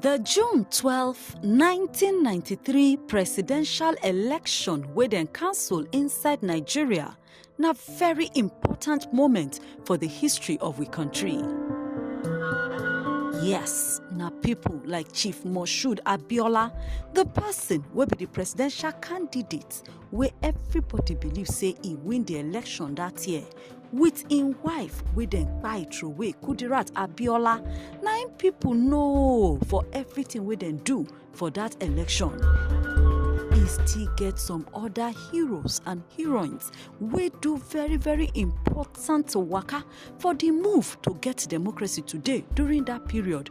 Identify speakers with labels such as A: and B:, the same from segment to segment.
A: The June 12, 1993 presidential election wey dem cancel inside Nigeria na very important moment for the history of we country. Yes, na people like Chief Moshood Abiola, the person wey be the presidential candidate wey everybody believe say e win di election dat year wit im wife wey dem kpai throway kudirat abiola na im pipo know for everything wey dem do for dat election e still get some oda heroes and heroines wey do very very important waka for di move to get democracy today during dat period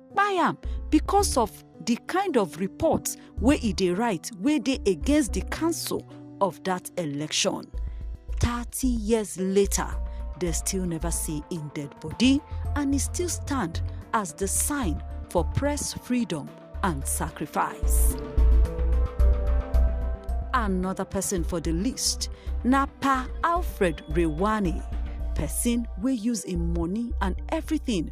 A: kpai am because of di kind of report wey e dey write wey dey against di council of dat election. Thirty years later, dem still neva see im dead body and e still stand as di sign for press freedom and sacrifice. Anoda pesin for di list na Pa Alfred Rewane, pesin wey use im money and evritin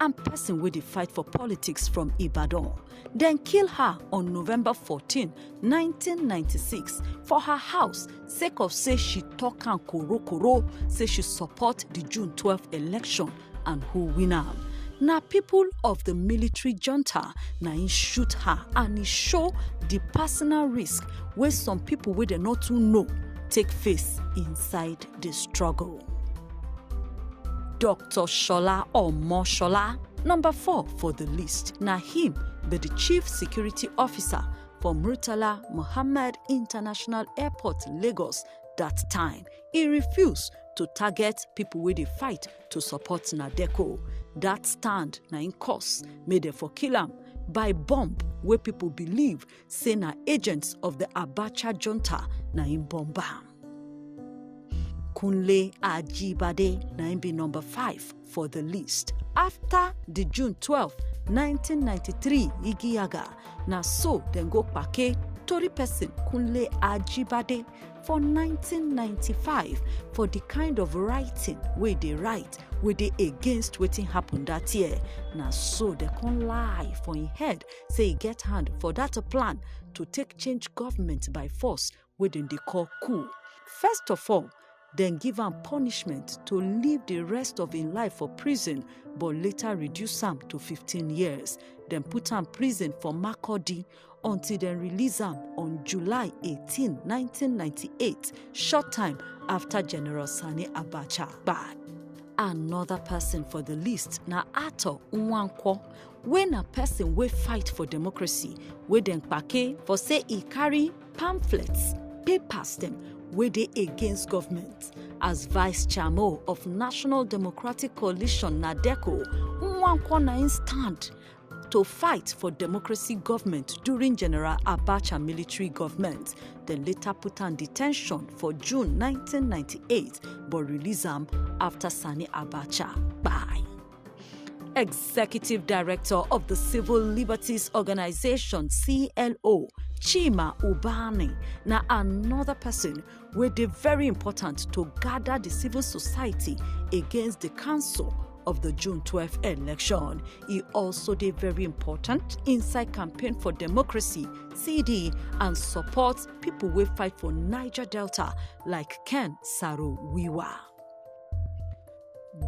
A: and person wey dey fight for politics from Ibadan. Dem kill her on November 14, 1996 for her house sake of say she talk am korokoro say she support the June 12 election and who win am. na people of the military junta na im shoot her and e show the personal risk wey some people wey dem no too know take face inside dey struggle. Dr. Shola Omoshola, number four for the list, na him be the chief security officer for Murtala Muhammad International Airport, Lagos that time. He refuse to target people wey dey fight to support Nadeco. That stand na im cause make dem for kill am by bomb wey people believe say na agents of the Abacha junta na im bomb am. Kunle Ajibade na im be number five for the list. After the June 12, 1993 Igiyaga, na so dem go kpake tori person Kunle Ajibade for 1995 for the kind of writing wey dey write wey dey against wetin happen that year. Na so dem come lie for im head say e get hand for dat plan to take change government by force wey dem dey call coup. First of all, dem give am punishment to live di rest of im life for prison but later reduce am to 15 years. Dem put am prison for Makurdi until dem release am on July 18, 1998, short time afta General Sani Abacha kpai. Anoda pesin for di list na Arthur Nwankwo wey na person wey fight for democracy wey dem kpake for say e carry pamphlets papers dem wey dey against government as vice chairmo of national democratic coalition nadeco nwankwo na im stand to fight for democracy government during general abacha military government dem later put am detention for june 1998 but release am afta sani abacha kpai. Executive Director of the Civil Liberties Organization CLO, Chima Ubani, na another person wey dey very important to gather the civil society against the council of the June 12 election. E also dey very important inside campaign for democracy CD and support people wey fight for Niger Delta like Ken Saro Wiwa.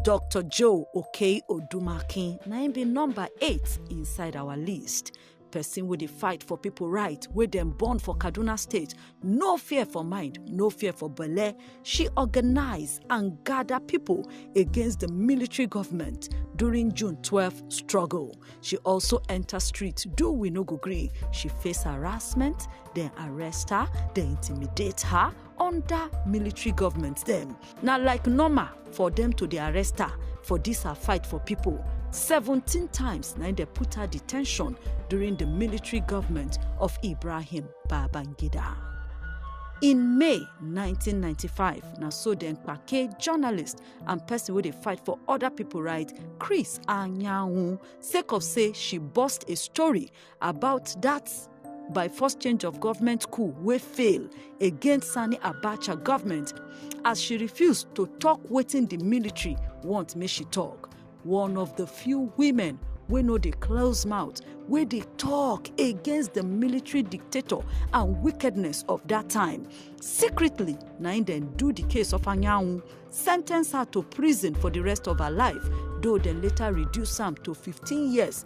A: Dr. Joe Okei Odumakin na im be number eight inside our list. Person wey dey fight for people right wey dem born for Kaduna State, no fear for mind, no fear for belle. She organize and gather people against the military government during June 12 struggle. She also enter street do we no go gree. She face harassment, dem arrest her, dem intimidate her under military government dem. Na like normal for dem to dey arrest her for dis her fight for pipo. Seventeen times na im dem put her de ten tion during di military government of Ibrahim Babangida. In May nineteen ninety five, na so dem kpake journalist and pesin wey dey fight for oda pipo right, Chris Anyanwu sake of say she burst a story about dat by force change of government coup wey fail against sani abacha government as she refuse to tok wetin di military want make she tok one of di few women wey no dey close mouth wey dey tok against di military dictator and wickedness of dat time secretly na im dem do di case of anyanwu sentence her to prison for di rest of her life though dem later reduce am to 15 years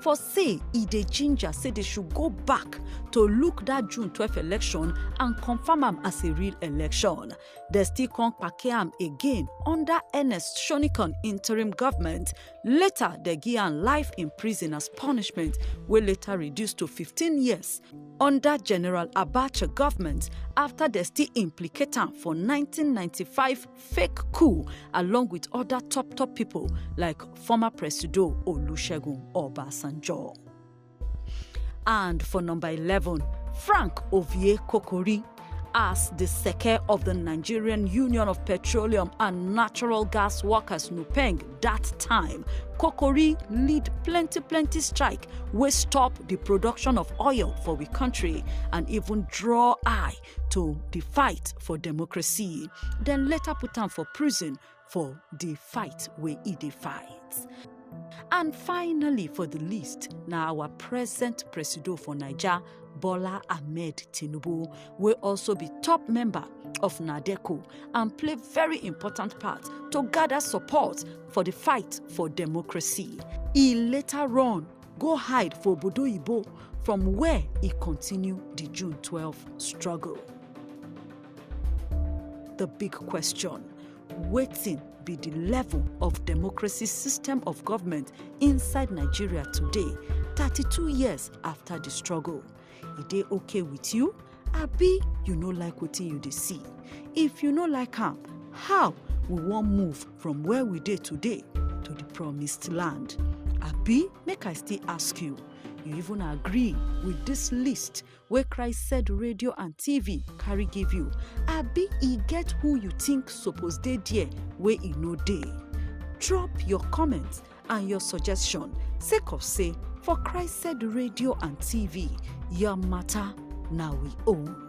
A: for say e dey ginger say they should go back to look that June 12 election and confirm am as a real election. They still come kpake am again under Ernest Shonikon interim government. Later, they give am life in prison as punishment, wey later reduced to 15 years under General Abacha government after they still implicate am for 1995 fake coup along with other top top people like former Presido Olusegun Obasanjo. And for number 11, Frank Ovie Kokori as the Seke of the Nigerian Union of Petroleum and Natural Gas Workers Nupeng that time, Kokori lead plenty plenty strike wey stop the production of oil for we country and even draw eye to di fight for democracy dem later put am for prison for di fight wey e dey fight. And finally for di list na our present presido for Naija Bola Ahmed Tinubu wey also be top member of NADECO and play very important part to gada support for di fight for democracy. E later run go hide for obodo oyibo from where e continue di june twelve struggle the big question wetin be di level of democracy system of government inside nigeria today thirty-two years afta di struggle e dey okay with you abi you no like wetin you dey see if you no like am how we wan move from where we dey today to the promised land abi make i still ask you you even agree with this list wey christ said radio and tv carry give you abi e get who you think suppose dey there wey e no dey drop your comments and your suggestion sake of say for christed radio and tv your matter na we own